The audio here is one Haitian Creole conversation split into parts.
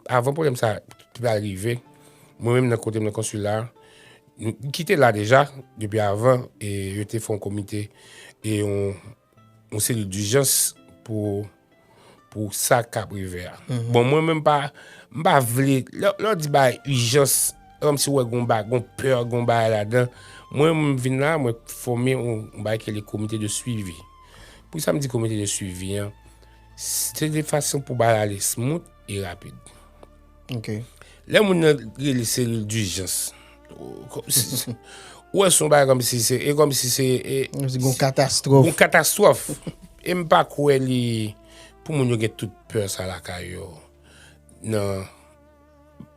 Avan pwoblèm sa te pral rive, mwen menm nan kote m nan konsila, ki te la deja depi avan, yo te fè yon komite, yon selil dijans pou sa k ap rive a. Bon mwen menm m pa vle, lè yo di bagay ijans, se kòmsi ou wè gen yon pè, gen yon bagay ladan. Mwen m vin la, mwen fòme yon bagay ki rele komite de swivi. Poukisa m di komite de swivi an? Se de fason pou bagay ale smout. E rapid. Ok. Lè moun nan rele seril dijans. Ou wè son bagay kòm si se. E kòm si se. E kòm si gon katastrof. Gon katastrof. E m pa kwè li. Pou moun yo gen tout pè sa lakay yo. Nan.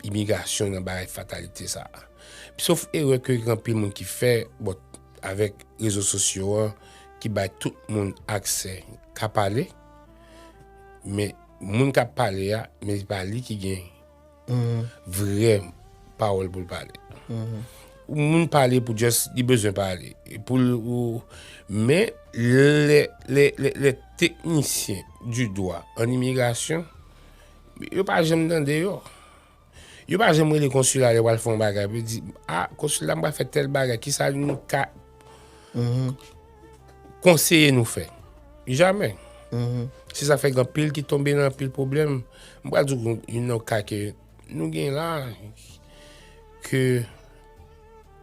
Imigasyon nan bagay fatalite sa. Sof e wè ke gen anpil moun ki fè. Bon. Avèk rezo sosyo an. Ki bay tout moun aksè. Ka pale. Men. Moun kap pale a men se pa li ki gen vrè pawòl pou l pale. Moun pale pou just li bezwen pale. Men lè teknisyen di dwa an imigrasyon, yo pa janm tande yo. Yo pa janm rele konsila lè yo pral fè yon bagay pou yo di a konsila pral fè tèl bagay kisa nou ka konseye nou fè. Jamè. Se sa fè gen anpil ki tonbe nan anpil pwoblèm. M pral di w yon nan ka ke nou gen la ke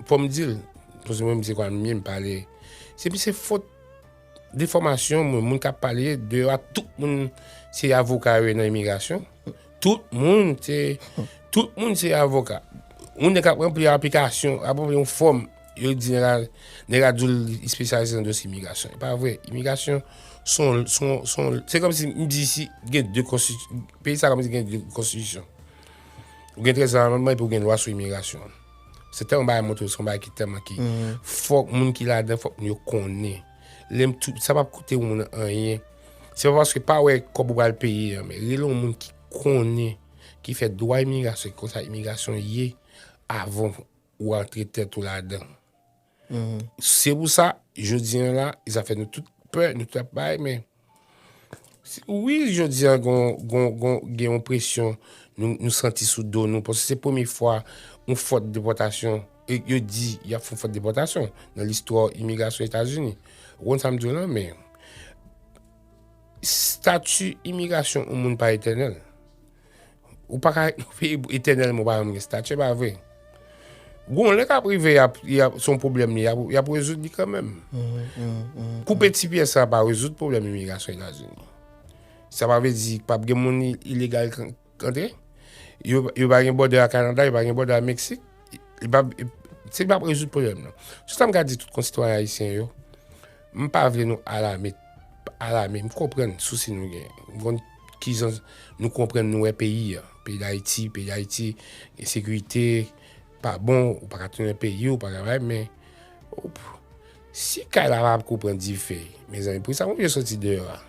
fò m di l, paske mwen m se kwa m menm pale, se pi se fot De fòmasyon mwen, moun kap pale de yo a, tout moun se avoka yo ye nan imigrasyon. Tout moun se, tout moun se avoka. Moun de kap rempli aplikasyon, ap rempli yon fòm, yo di nèg la, nèg la dil li spesyalize nan dosye imigrasyon. E pa vre, imigrasyon son, son, son, se kòm si m di si gen de konstitu, peyi sa kòm si gen de konstitisyon. Ou gen 13 amandman epi ou gen lwa sou imigrasyon. Se tèlman bagay montre son bagay ki tèlman ki fòk moun ki ladan fòk moun yo konnen. Lèm tou sa pap koute ou moun anyen. Se pa paske pa wè kòb ou pral peye an men rele ou moun ki konnen ki fè dwa imigrasyon ki konsa imigrasyon ye avan ou antre tèt ou ladan. Se pou sa, jodi an la, sa fè nou tout pè, nou tout ap bay, men, wi, jodi an gen yon presyon nou santi sou do nou, pwosè se pwemye fwa yon fòt depòtasyon, yo di y ap fon fòt depòtasyon nan listwa imigrasyon Etazini. Ou konn sa m di w la, men, stati imigrasyon yon moun pa etènèl. Ou pa ka viv etènèlman ou pa janm gen statye, se pa vre. Gon lè kap rive yap son pwoblèm li yap rezoud li kanmèm. Koupe ti pyè sa pa rezoud pwoblèm imigrasyon Etazini. Sa pa vle di pap gen moun ilegal k antre. Yo pa gen bòdè ak Kanada, yo pa gen bòdè ak Meksik. Se pap rezoud pwoblèm nan. Sou sa m ka di tout konsitwayen ayisyen yo. M pa vle nou alame, alame, m konprann sousi nou gen. M konn ki jan nou konprann nou wè peyi a. Peyi Dayiti, peyi Dayiti, ensekirite, pa bon, ou pa ka tounen peyi ou, ou pa ka bay, men, oop, si kay la pa ko pran dife, mezanmi, pou ki sa m oblije soti deyò a?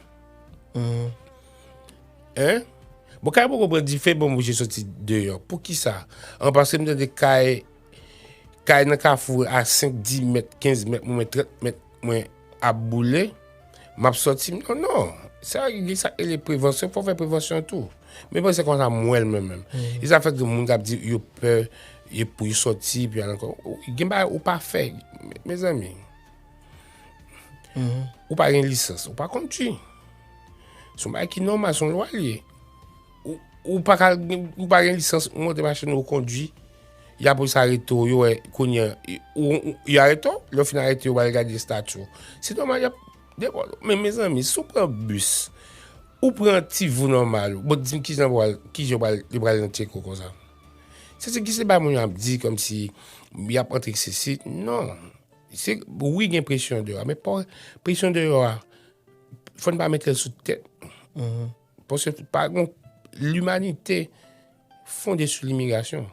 Hein? Bon, kay la pa ko pran dife, bon, m oblije soti deyò. Pou ki sa? An, paske m tande kay Kay nan kafou a 5, 10 mèt, 15 mèt mwen, 30 mèt mwen ap boule, m ap sòti m di non. Sa ki di sa ele prevansyon, fò fè prevansyon tou. Men mwen se konsa m wè l mwen menm. E sa fè ke moun kap di yo pè, yo pou yo sòti, pou yo al ankò. Gen bagay ou pa fè. Mezanmi, ou pa gen lisans, ou pa kondui. Son bagay ki nòmal, son lwa li ye. Ou pa ka, ou pa gen lisans, ou monte machin ou kondwi, ya pou sa arete ou, yo wè kounye, yo arete ou, lè ou fin arete ou, yo wè gade estati ou. Se nòmal yap depò ou. Men mezanmi, si ou pran bis, ou pran ti vou nòmal ou, bon di m ki jan pou al, ki jan pou al, yo pral nan tchek ou konsa. Se se ki se bay moun ap di kòm si yap antre se si, non. Se, wi gen presyon deyò, men pa wè, presyon deyò a, fòn pa mete sou tèt nou. Paske pa gon limanite fonde sou limigrasyon.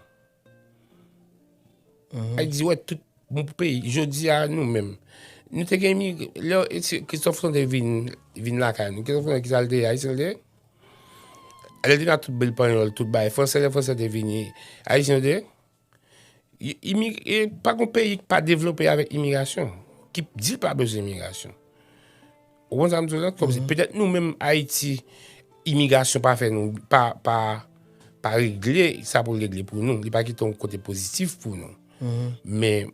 Ay di wè tout moun pou peyi. Jodi a nou menm. Nou te gen imigre. Lè Christophe Fonte vin la ka nou. Christophe Fonte ki sal te ya. Ayisyen te. Alè te na tout bel panyol, tout bay. Fransè lè fransè te vini. Ayisyen te. Pa gen peyi ki pa devlope avèk imigrasyon, ki di l pa bezwen imigrasyon. Ou konprann sa m di w la? Kòm si petèt nou menm Ayiti, imigrasyon pa fè nou, pa regle sa pou l regle pou nou. Li pa kite yon kote pozitif pou nou. Men,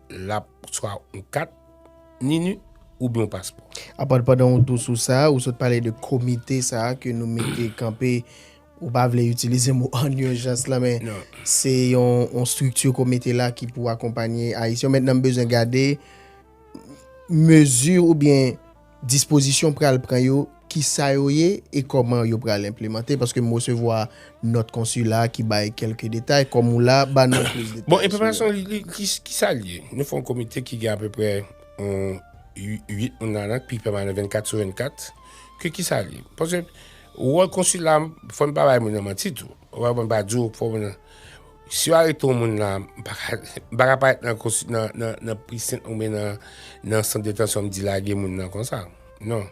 Lap swa yon kat nini oubyen yon paspò. Apa pandan ou tou sou sa, ou sot pale de komite sa ke nou mete kanpe, ou pa vle itilize mo an urjans la men se yon strikti komite la ki pou akonpanye Ayisyen. Mètnan m bezwen gade mezi oubyen. Dispozisyon pral pran yo, ki sa yo ye e kòman yo pral enplemante? Paske m resevwa nòt konsila ki bay kèlke detay. Kòm ou la, ba nou plis detay sou. Bon, enplemantasyon li, ki sa l ye? Nou fè yon komite ki gen apeprè 8 moun ladan l, ki pèmanan 24 sou 24. Ke ki sa l ye? Paske wòl konsila, fò n pa bay moun nan manti tou. Fò n pa di w, fò moun nan. Si yo arete yon moun la, m pa ka, m pa ka pa nan konsi, nan, nan, nan prison ou men nan, nan sant detansyon m di lage moun nan konsa. Non.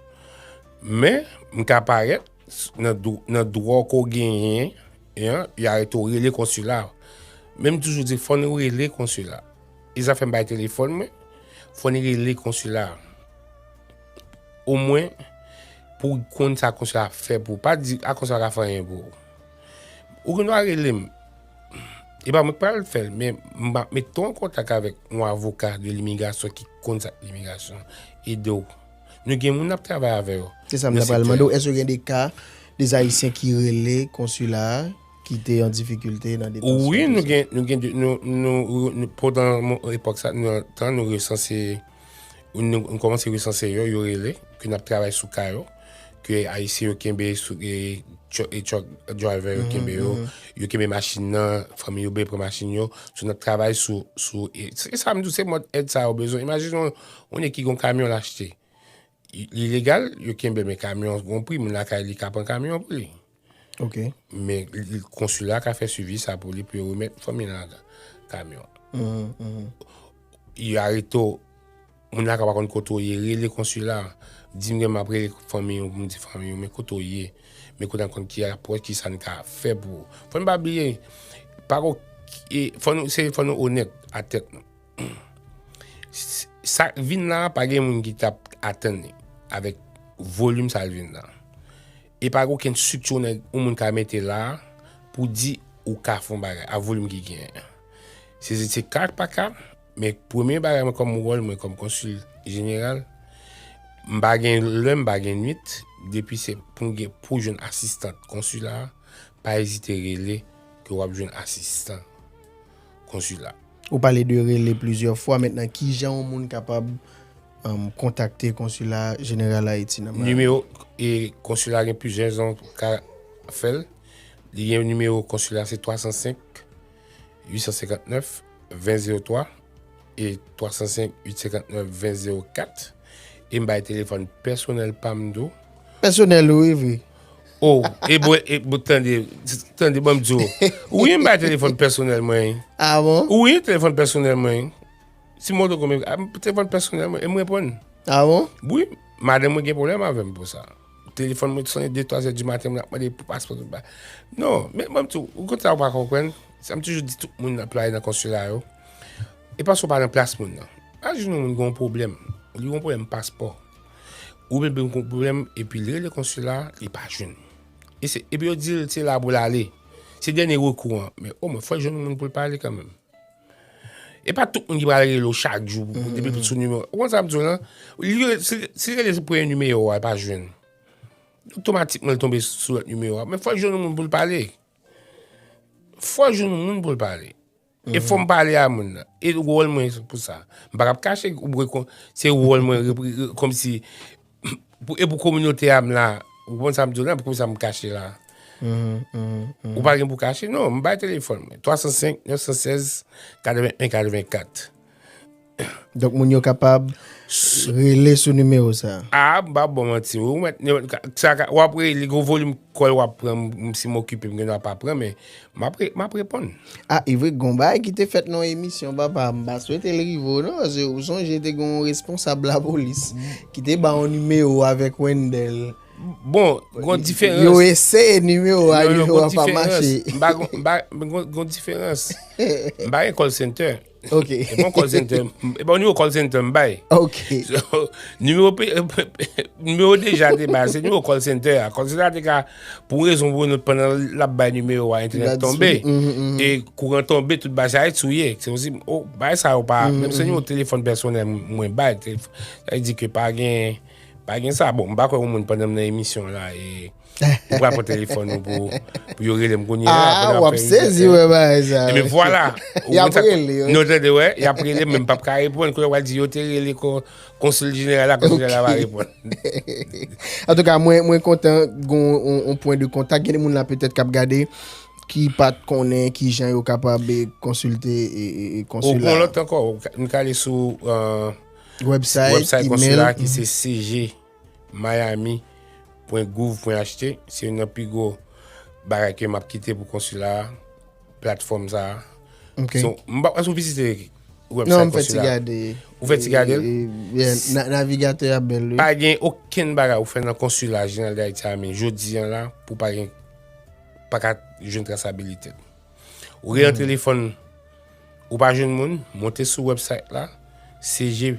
Men, m ka parèt nan dro, nan dwa w ke w genyen, yan, yo arete w, rele konsila. Men m toujou di fò nou rele konsila. E sa fè m bay telefòn mwen, fò nou rele konsila. Omwen pou w konn sa konsila ap fè pou w. Pa di, a konsila pa ka fè anyen pou w. Ou gen dwa rele m. E pa mwen k pral fè l, men m ap mete w an kontak avèk yon avoka de limigrasyon ki konn sa k limigrasyon, ede w. Nou gen moun n ap travay avè yo. Se sa m ta pral mande w, èske gen de ka de Ayisyen ki rele konsila a ki te an difikilte nan detansyon tout sa? Wi, nou gen, nou gen, nou, nou, pandan epòk sa, nou, tan nou resanse. Nou kòmanse resanse yo, yo rele, ke nap travay sou ka yo, ke ayisyen yo kenbe, e truck driver yo kenbe yo, yo kenbe machin nan, fanmi yo beye pran machin yo, sou nap travay sou, se sa mdou se mòd èd sa yo bezwen, imajine yon moun ki gon kamyon l achte, li legal, yo kenbe men kamyon gon pri, moun lakay li ka pran kamyon pou li. Ok. Men konsila ka fè suivi sa pou li pou yo remèt fanmi la kamyon. Yo arete ou, moun la ka pa konn kote ou ye, rele konsila, di m gen m ap rele fanmi ou pou m di fanmi ou men kote ou ye. Men kote an konn ki apwòch ki sa n ka fè pou ou. Fò n pa bliye, pa gen okenn, se fò nou onèt a tèt nou. Sa k vin la a pa gen moun ki t ap atann li avèk volim sa l vin la a. E pa gen okenn sik tchou nèg yon moun ka mete la a pou di ou ka fè yon bagay a volim ki genyen an. Se se se ka ak pa ka, men premye bagay mwen kòm wòl mwen kòm konsil jeneral, m pa gen lè, m pa gen nuit, depi se pou m gen pou jwenn asistan konsila a, pa ezite rele ke w ap jwenn asistan. konsila. Ou pale de rele plizyè fwa, mentnan kijan yon moun kapab kontakte konsila jeneral Ayiti nan Miami? Nimewo konsila gen plizyè jan pou ka fè l. Li gen nimewo konsila se 305 859 2003 e 305 859 2004. E m bay telefòn pèsonèl pa m tou. Pèsonèl ou wi? O, e bon, e bon, tande, tande banm di ou. Ou yon bay telefon personel mwen. A ah bon? Ou yon telefon personel mwen. Si mwen do kome, a mwen telefon personel mwen, e mwen pon. A ah bon? Oui, madame mwen gen problem avèm pou sa. Telefon mwen sonen 2, 3 zè di maten mwen ap mande pou paspon tout ba. Non, men banm di ou, ou kontra ou pa konpren, sa m toujou di tout moun nan play nan konsula yo, e paspon pa nan plas moun nan. A jounou moun gen yon problem, li yon problem paspon. Ou vin pou yon gwo pwoblèm epi li rele konsila a, li pa jwenn. E se, epi yo di l se la pou l ale. Se dènye rekou an. Men omwen fò l jwenn yon moun pou l pale kanmenm. E pa tout moun ki pral rele w chak jou pou pou depi pou sou nimewo. Ou konn sa m di w lan? Li rele, si l, si l rele sou premye nimewo a, li pa jwenn. Otomatikman l tonbe sou lòt nimewo a. Men fò l jwenn yon moun pou l pale. Fò l jwenn yon moun pou l pale. E fò m pale a moun nan. E wòl mwen pou sa. M pa ka ap kache ou bwe kon. Se wòl mwen kom si. E pou kominote a m la. Ou konn sa m di w la. Pou sa m kache la. Ou pa gen pou kache. Non m bay telefon mwen. 305 916 81 84. Donk moun yo kapab rele sou nimewo sa. A, m pa bon manti ou. Ou ap rele, li gen yon volim kòl ou ap pran, si m okipe m gen dwa pa pran men, m ap reponn. A, e vre gen yon bagay ki te fèt nan yon emisyon papa, m pa swete l rive ou non, paske ou sonje te gen yon responsab lapolis ki te ba yon nimewo avèk Wendel. Bon, gen yon diferans. Yo eseye nimewo a, nimewo a pa mache. Gen yon diferans. M pa gen kòl sentè. Ok. E bon call center, e bon numéro call center m bay. Ok. So, numéro numéro déjà te bay, se numéro call center a. Call center a te ka pou rezon pou nou pandan la bay numéro a internet tombe. Mm -hmm, mm -hmm. E kouran tombe tout bay sa et souye. Se osi oh, bay sa ou pa, mm -hmm. menm se numéro téléphone personnel mwen bay, ça dit que pas gen pas gen ça. Bon, m pa kwè moun pandan m nan émission là et Ou pral pran telefon nou pou pou yo relem kounye la ah, après wap sezi wè ba ça. Mais voilà. y a relé. Non tande wè, y a relé même pas ka répondre quand va dire yo te relé consul général la consul général va répondre. en tout cas, moi moi content gon un point de contact, il y a des gens là peut-être qui regarder qui pas connaît qui gens yo capable de consulter et consulat. Bon l'autre encore, nous aller sur euh, website, website consulat qui c'est CG Miami pwen gouv pwen HT se youn nan pi gwo bagay ke map kite pou konsila a platfòm sa a Ok So m pa èske ou vizite website konsila a? Non m fè ti gade Ou fè ti gade l? Yeah navigatè a bèl wi. Pa gen okenn bagay ou fè nan konsila jeneral Dayiti a men jodi an la pou pa gen pa ka jwenn trasabilite l. Ou gen yon telefòn ou pa jwenn moun monte sou website la CG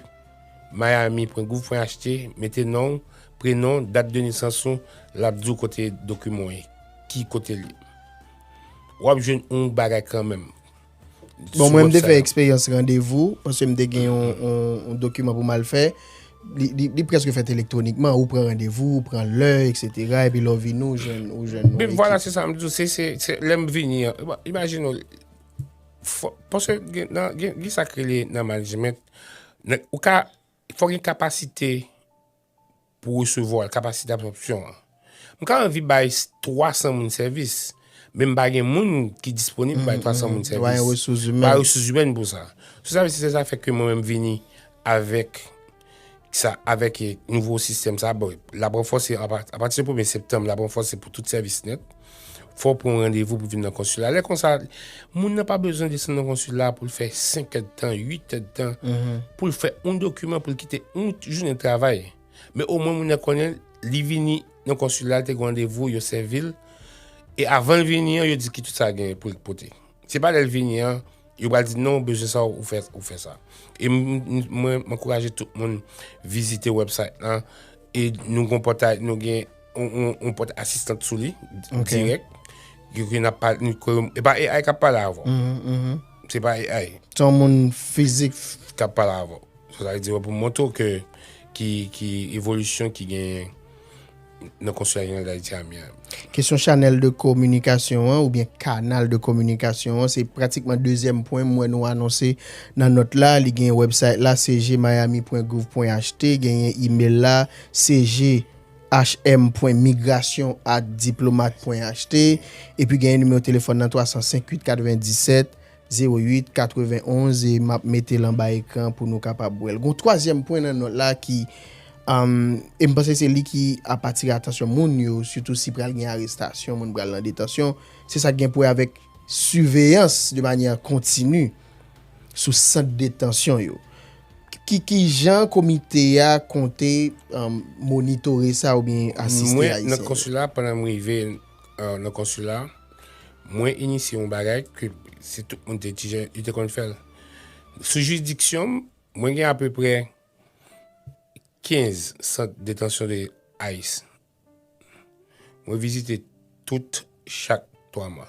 Miami pwen gouv pwen HT mete non w, prenon, dat de nesans ou l ap di w kote dokiman w ye, ki kote l ye. W ap jwenn yon bagay kanmenm. Bon mwen m te fè eksperyans randevou paske m te gen yon dokiman pou m al fè, li prèske fèt elektwonikman, ou pran randevou, ou pran lè eksetera epi lè w vini w jwenn yon ekip. Vwala se sa m di w, se lè m vini an, imajine w. Paske gen sa ki rele nan management, ou ka, fòk gen kapasite pou resevwa l, kapasite absòpsyon an. M ka anvi bay 300 moun sèvis, men m pa gen moun ki disponib pou bay 300 moun sèvis. Ou pa gen resous imèn. Ou pa gen resous imèn pou sa. Sou sa, se sa fè ke mwen menm vini avèk. Sa avèk nouvo sistèm sa, bon, l ap ranfòse apati premye septanm, l ap ranfòse pou tout sèvis nèt. Fò pou yon randevou pou vin nan konsila. Lè konsa, moun nan pa bezwen desan nan konsila pou l fè 5 èd tan, 8 èd tan, pou l fè yon dokiman, pou l kite yon jounen travay. Men omwen moun nan konnen, li vini nan konsila, li te gen randevou, yo sèvi l. E avan l vini an, yo di ki tout sa gen pou l pote. Se pa lè l vini an. Yo pral di non ou bezwen sa ou fè ou fè sa. E mwen ankouraje tout moun vizite website lan e nou gon pòtay nou gen on pòt asistant sou li direk. Yo gen ap pale nou kwe e pa AI kap pale avò. Se pa AI. Se yon moun fizik kap pale avò. Sa vle di wè pou montre ke ki evolisyon ki gen nan konsil jeneral Dayiti a Miami. Kesyon chanèl de kominikasyon an oubyen kanal de kominikasyon an se pratikman dezyèm pwen m wè nou anonse nan nòt la. Li gen wèbsayt la cjmiami.gouv.ht, genyen imel la cjhm.migration@diplomat.ht epi genyen nimewo telefòn nan 305 897. 08 91 e m ap mete l anba ekran pou nou kapab wè l. Gon twazyèm pwen nan nòt la ki e m panse se li ki ap atire atansyon moun yo sitou si pral gen arestasyon, moun pral nan detansyon, se sa k gen pou wè avèk siveyans de manyè kontini sou sant detansyon yo. Ki jan komite a konte monitore sa oubyen asiste Ayisyen yo? Mwen nan konsila pandan m rive. euh, nan konsila, mwen inisye yon bagay ke si tout moun te tijen, yo te konn fèl. Sou juridiksyon m, mwen gen apeprè 15 sant detansyon de ais. Mwen vizite tout chak 3 mwa.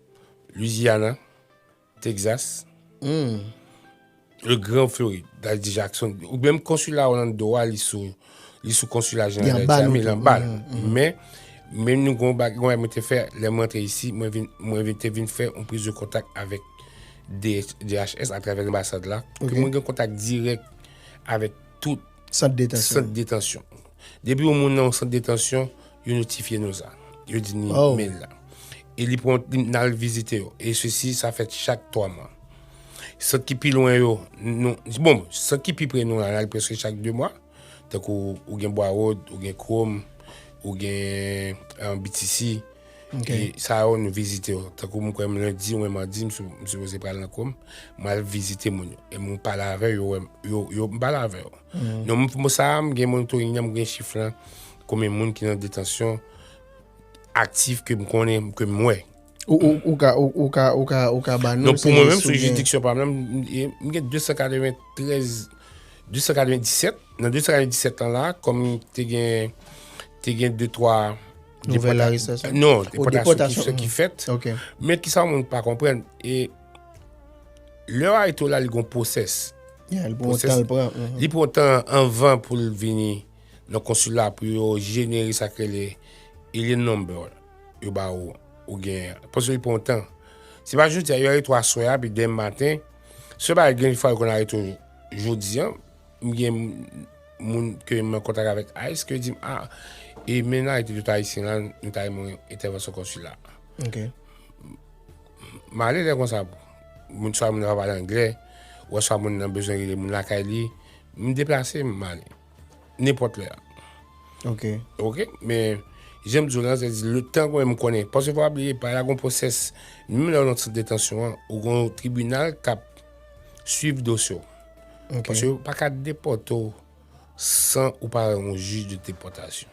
Louisiana, Texas, le grand Floride, dal di Jackson. Ou menm konsula Orlando a li sou li sou konsula jeneral Haiti a, men lan bal. Men men nou gon bag gon mwen te fè lè mwen te ici, mwen vin mwen vin te vin fè on prise de contact avec DHS à travers l'ambassade là, okay. mwen gen kontak dirèk avèk tout sant detansyon. Sant detansyon. Depi yon moun nan yon sant detansyon, Yo notifye nou sa. Yo di ni mail la. E li pran li nal vizite yo. E sesi sa fèt chak 3 mwa. Sant ki pi lwen yo, nou, bon, sant ki pi pre nou la, nal preske chak 2 mwa. Tankou ou gen Bwawod, ou gen Krom, ou gen an BTC. Ok. E sa yo nou vizite yo. Tankou mwen kwèm lendi oubyen madi m sipoze pral nan Krom, mal vizite moun yo. E mwen pale avè yo, yo wèm, yo, yo, m pale avè yo. Non m sa m gen monitoring nan, m gen chif lan. Konbyen moun ki nan detansyon aktif ke m konnen, ke m wè? Ou ka, ou ka, ou ka, ou ka ba nou. Non pou mwen menm, sou jiridiksyon pa mwen, m gen 293, 297, nan 297 lan la, kòm te gen, te gen 2, 3, Nouvel arestasyon? Non, depòtasyon ki fèt. Ok. Men ki sa moun pa konprenn, e, lè yo arete w la, li gon pwosès. Ya, li pran tan l pran. Li pran tan anvan pou l vini. nan konsila pou yo jenere sa ki rele alien number yo ba ou ou gen an. Paske li pran tan. Se pa jodi a, yo arete aswè a, pi demen maten, se pa gen fwa yo konn arete jodi an, m gen moun ke m an kontak avèk ice ke di m a, e men nan arete tout ayisyen la, nou ta renmen entèvansyon konsila. Ok. M ale lè konsa, moun sa moun nan pa pale anglè, ou aswa moun nan bezwen rele moun lakay li, m deplase m ale. Nenpòt lè a. Ok. Ok, men, jan m di w lan, se di, le tan mwen m konnen, paske fò w pa bliye, pa la gon pwosès, menm lè w nan sant detansyon an, ou gon yon tribinal k ap swiv dosye w. Ok. Paske yo pa ka depòte w san ou pa wè yon jij de depòtasyon.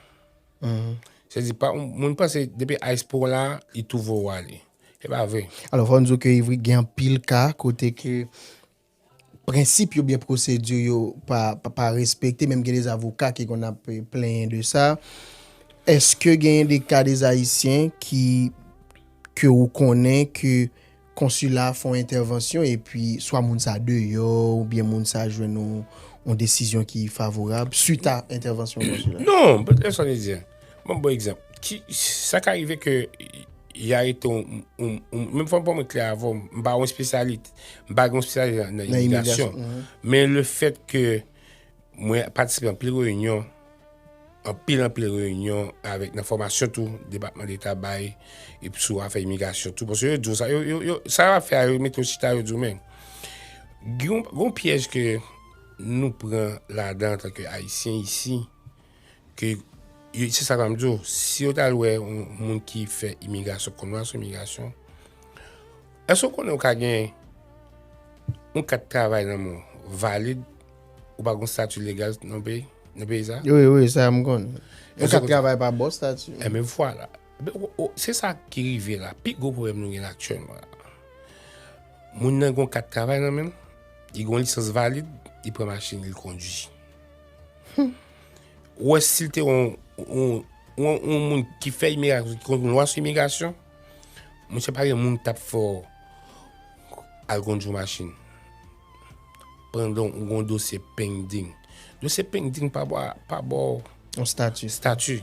Se di, pa, moun panse depi ice pou w la, li tou voye w ale. Se pa vre. Alò, fò n di w ke gen anpil ka kote ke. prensip yo oubyen pwosedi yo pa respekte menm gen des avoka ki konn ap plenyen de sa eske genyen de ka des ayisyen ki ke ou konnen ke konsila fon entèvansyon epi swa moun sa deyò oubyen moun sa jwenn yon desizyon ki favorab suit a entèvansyon konsila. Non, M'ap baw egzanp, ki, sa ka rive ke y arete yon, yon, yon, menm fòm pou mwen klè avèw, m'pa yon espesyalit, m'pa gen yon espesyalit nan imigrasyon, men le fèt ke mwen patisipe anpil reyinyon, anpil, anpil reyinyon avèk nan fòmasyon tou Depatman Deta bay epi sou afè imigrasyon tou, paske yo diw sa, yo, yo, yo, sa wap fè a yo metew chita yo diw men, gen yon, gen yon pyèj ke nou pran ladan antanke Ayisyen isi. Ke yo, se sa map di w, si yo tal wè yon moun ki fè imigrasyon, konn wè sou imigrasyon, èske w konnen ou ka gen yon kat travay nan men w, valid, ou pa gen yon stati legal nan yon peyi? Nan peyi sa? Wi, wi, sa m konnen. Yon kat travay pa bon stati. E men vwala. Se sa ki rive la. Pi gwo pwoblèm nou gen la aktyèlman la. Moun nan gen yon kat travay nan men l, li gen yon lisans valid, li pran machin li, li kondwi. Ou wè sil te yon yon moun ki fè imigrasyon, ki konn lwa sou imigrasyon, misye pa gen moun ki t ap fè w al kondui machin pandan ou gen yon dosye pending. Dosye pending pa ba w pa ba w yon estati. Estati.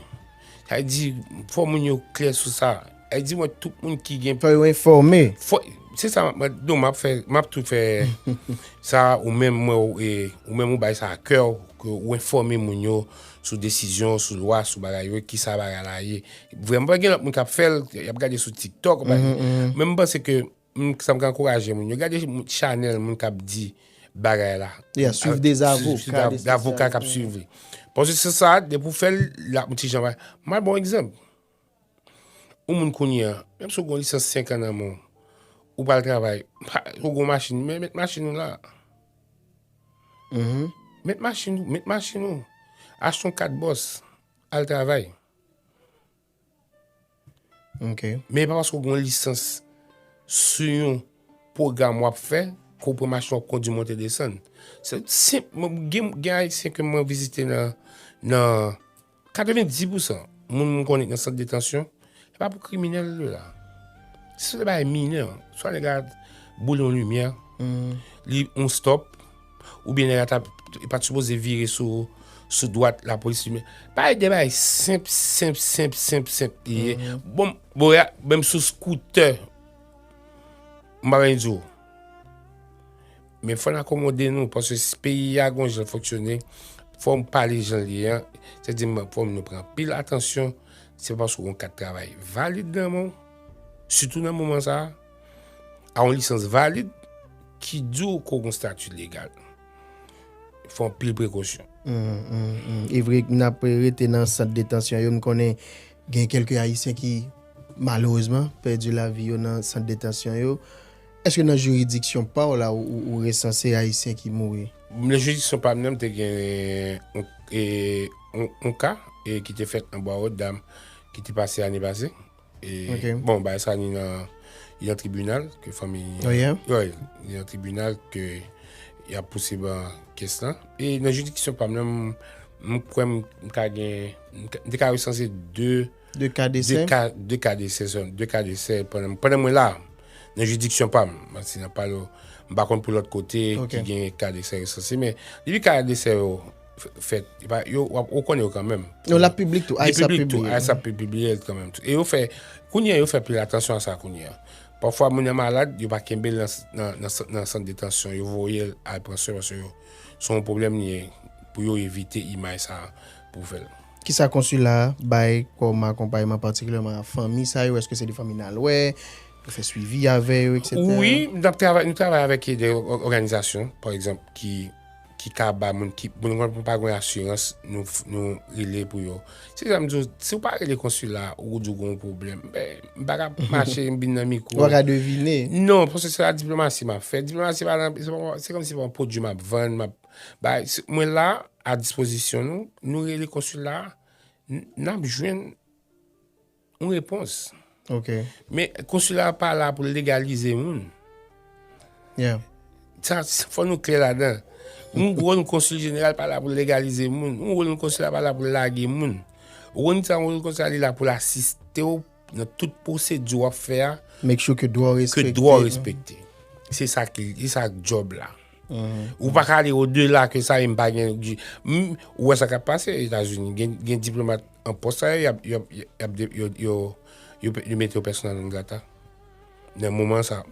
Sa vle di fò moun yo klè sou sa. Ay di mwen tout moun ki gen. Fò yo enfòme. Fò, se sa map, non map fè, map tou fè sa ou menm mwen ou e, ou menm ou bay sa a kè ou, ke ou enfòme moun yo sou desizyon, sou lwa, sou bagay yo, ki sa bagay la ye. Vrèman, pa gen lòt moun kap fèl, yap gade sou tiktok, men mwen panse ke, m sa m ka ankouraje moun yo, gade chanèl moun kap di bagay la. Ya, swiv de zavoka. Zavoka kap swiv li. Paske se sa, depi ou fèl, lap m ti jan bay. M bay bon egzanp. Ou moun kounye a, menm si ou gen yon lisans 5 an nan men w, ou pral travay, ou gen yon machin, men met machin ou la. Mm-hmm. Met machin ou, met machin ou. Achte yon kat bòs, al travay. Ok. Men pa paske ou gen yon lisans sou yon pwogram wap fè, ke ou pran machin wap kondi monte desann. Se senp, gen ayisyen ke mwen vizite nan, nan. 90 pousan moun m konnen ki nan sant detansyon, se pa pou kriminèl yo la. Se sou de bagay minè. Swa nèg la boule yon limyè, li yon stop, oubyen nèg la ta pa t sipoze vire sou sou dwat lapolis li men. Pa e de bagay senp, senp, senp, senp, senp li ye. Bon, bon ya, menm sou skoutè, m pa vle di w. Men fòn akomode nou, paske si peyi a gon jan l fonksyone, fòn pale jan l ye an, se di m fòn nou pran anpil atansyon, se paske w gen yon kat travay valid nan men w, sitou nan moman sa a, a yon lisans valid, ki di w ke w gen yon stati legal. Fò anpil prekosyon. E vre n ap rete nan sant detansyon yo, m konnen gen kèlke ayisyen ki malerezman pèdi lavi yo nan sant detansyon yo. Eske nan jiridiksyon pa w la ou resanse Ayisyen ki mouri? Nan jiridiksyon pa m nan, m te gen yon ka ki te fèt nan Bwa Wòtdam ki te pase ane pase. Bon, bagay sa ni nan yon tribinal ke fanmi... Oh yeah? Wi, ni nan tribinal ke y ap pousib an kes lan. E nan jiridiksyon pa m nan, m kwè m ka gen, m te ka resanse 2. 2 ka desè. 2 ka desè sèlman. 2 ka desè pandan mwen la. Nan jiridiksyon pa m. Mati nan pale w. M pa konn pou lòt kote ki gen ka desè resanse. Men, depi ka desè yo fèt, yo ou konnen yo kanmenm. Yo la piblik tou. Li piblik tou. Ais ap pibliye l kanmenm tou. E yo fè, kounye a yo fè pil atansyon a sa kounye a. Pafwa moun nan malad, yo pa kenbe l nan sant detansyon. Yo voye l al pran swen paske yo se yon pwoblèm li ye pou yo evite imaj sa a pou fè l. Kisa konsila a bay kòm akonpayman patikilyèman a fanmi sa yo? Eske se de fanmi nal wè, nou fè swivi avè yo etsetera? Wi, nap travay, nou travay avèk de òganizasyon pa egzanp ki ki ka ba moun ki moun konn moun pa gen asirans nou nou rele pou yo. Se jan m di w, si w pa rele konsila a ou di w gen yon pwoblèm ben m pa ka ap mache m vin nan mikwo. Ou pa ka devine. Non, paske se la diplomasi map fè. Diplomasi pa nan se kòm si se pa yon pwodui map vann, map. Bay, mwen la a dispozisyon nou, nou rele konsila, n ap jwenn yon repons. Ok. Men konsila pa la pou legalize moun. Yeah. Sa, fò nou klè ladan. Yon wòl yon konsil jeneral pa la pou legalize moun. Yon wòl yon konsila pa la pou lage moun. Ou konn sa yon wòl yon konsila li la pou l asiste ou. Nan tout pwosedi wap fè a. Make sure ke dwa w respekte. Ke dwa w respekte. Se sa ki, se sa ki job la. Ou pa ka ale o de la ke sa e m pa gen. Ou wè sa kap pase Etazini. Gen diplomat an pos a yo, yo mete yo pèsonal non grata. nan moman sa.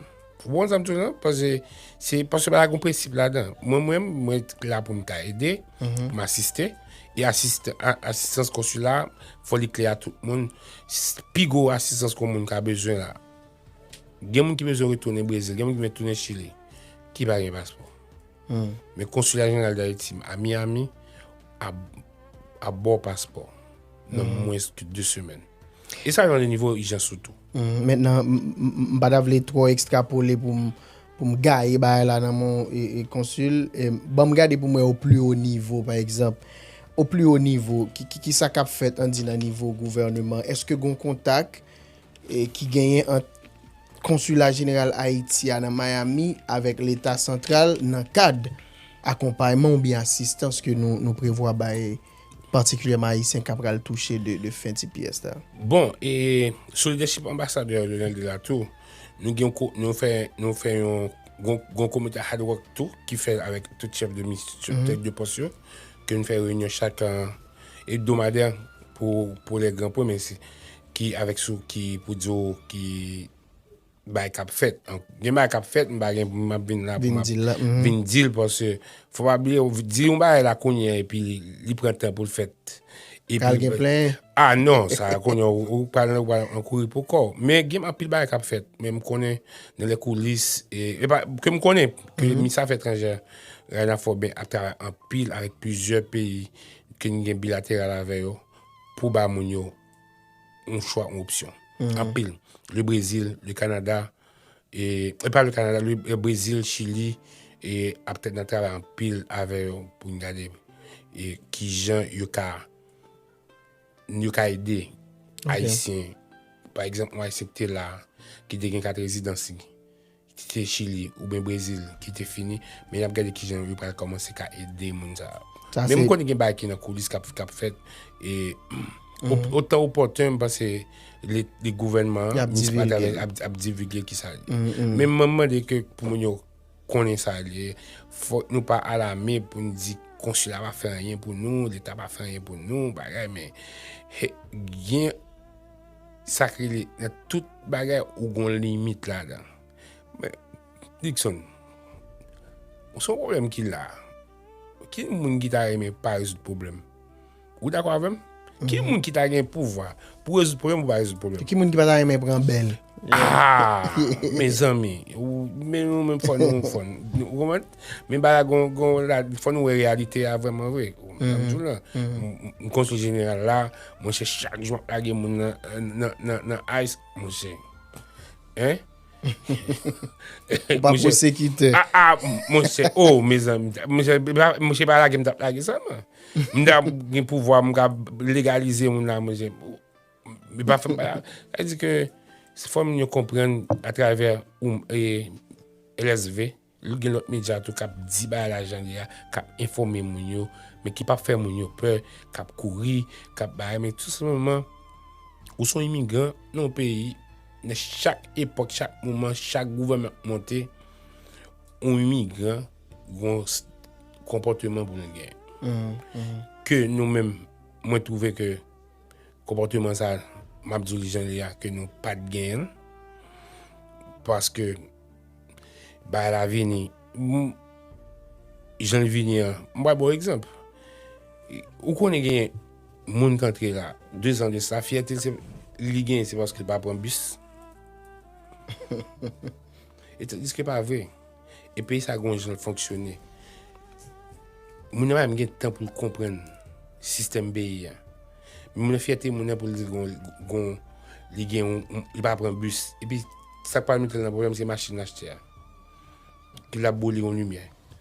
Ou bon zanm tou nan? Pase, se pase ba yon prensip la dan. Mwen mwen, mwen la pou mwen ta ede, mhm. pou mwen asiste. E asiste, asistans konsula, foli kle a tout moun. Pi go asistans kon moun ka bezwen la. Gen moun ki bezwen retounen Brezil, gen moun ki bezwen retounen Chile. Ki pa gen paspon. Men konsula jeneral da eti, a Miami, a... ap ba w paspò nan mwens ke 2 semèn. E sa gen nan nivo ijans ou tou. Mentnan, m pa ta vle twò ekstrapole pou m pou m gaye bagay la nan men yon konsil. Ban m gade pou m wè o pli o nivo, pa egzanp, o pli o nivo, ki sa k ap fèt, an di nan nivo gouvèneman? Èske gen yon kontak? ki genyen ant Konsila Jeneral Ayiti a nan Miami avèk Leta Santral nan kad akonpayman oubyen asistans ke nou prevwa bay patikilyèman Ayisyen ka pral touche de fen tps la. Bon, e solidèchip Anbasadè Donald la tou, nou gen yon fè, nou fè yon, gon komite Hard Rock tou ki fè avèk tout chèf de mis, tout tèt de pòs yo, ke nou fè reyinyon chak ebdomadè pou lè gran pwen, men Ki avèk sou ki pou di w ki bagay k ap fèt. Gen bagay k ap fèt m pa gen pou m ap vin la pou m ap vin di l paske fò pa bliye w di yon bagay la kounye a epi li pran tan pou l fèt. Pral gen plen. A non sa kounye w ou pral nan ou pral nan kouri pou kò w. Men gen anpil bagay k ap fèt men m konnen nan lè koulis e epa ke m konnen ke minis afè etranjè Rayna Fòben ap travay anpil avèk plizyè peyi ke n gen bilateral avè yo pou ba moun yo. yon chwa, yon opsyon. Anpil. Le Brezil, le Kanada, e pa le Kanada, le Brezil, Chili, e ap tèt nan travay anpil avè yo pou n gade e ki jan yo ka yo ka ede Ayisyen. Pa egzanp, yon Ayisyen ki te la, ki te gen kat rezidansi. Kite Chili oubyen Brezil ki te fini, men yap gade kijan yo pral kòmanse ka ede moun sa yo. Men m konnen gen bagay ki nan koulis kap fèt e o tan opòten m panse le gouvènman an, Minis Matavèl ap divige ki sa li. Men mwen mande ke pou moun yo konnen sa li ye, fòk nou pa alame pou nou di konsila pa fè anyen pou nou, leta pa fè anyen pou nou, bagay men gen. Sa k rele nan tout bagay ou gen yon limit ladan. Men, Dickson, se yon pwoblèm ki la. Ki moun ki ta renmen pa rezoud pwoblèm? Ou dakò avè m? Ki moun ki ta gen pouvwa pou rezoud pwoblèm pou pa rezoud pwoblèm? Ki moun ki pa ta renmen pran bèl? Aa! Mezanmi, ou menm fò nou fò n. Ou konprann? Men baga gon, gon, la, fò nou wè reyalite a vrèman vre. Mwen djou la, mwen konsul jeneral la, mwen se chak jou ap lage moun nan, nan, nan, nan ice, mwen se. Hein? Ou pa pwosekitè. A, a, mwen se, oh, mezanmi, mwen se, mwen se pa lage mwen tap lage sa mwen. Mwen ta gen pouvwa mwen ka legalize moun la mwen se. Mwen pa fèm pa. Sa di ke, se fò moun yo konprann a travè ou, e, LSV. Li gen lòt medya tou k ap di bagay la jan li ye a, k ap enfòme moun yo, men ki pap fè moun yo pè, k ap kouri, k ap bay, men tou senpleman ou s on imigran nan yon peyi, nan chak epòk, chak moman, chak gouvènman k monte, yon imigran gon konpòteman pou l gen. Ke nou menm, mwen twouve ke konpòteman sa, m ap di w li jan li ye a, ke nou pa t genyen l, paske. Bay la vini. Jan li vini an. M bay bon egzanp. Ou konnen gen moun kantre la. De zan de sa. Fyète li gen se paske pa pran bis. E te diske pa vre. E peyi sa gwen jan fonksyone. Moun nan bay m gen tan pou l kompren. Sistem peyi an. Moun nan fyète moun nan pou l di gwen. Li gen yon. Li pa pran bis. E pi. Sak pral metel nan problèm se machine lachte a ki lap boule yon limyè.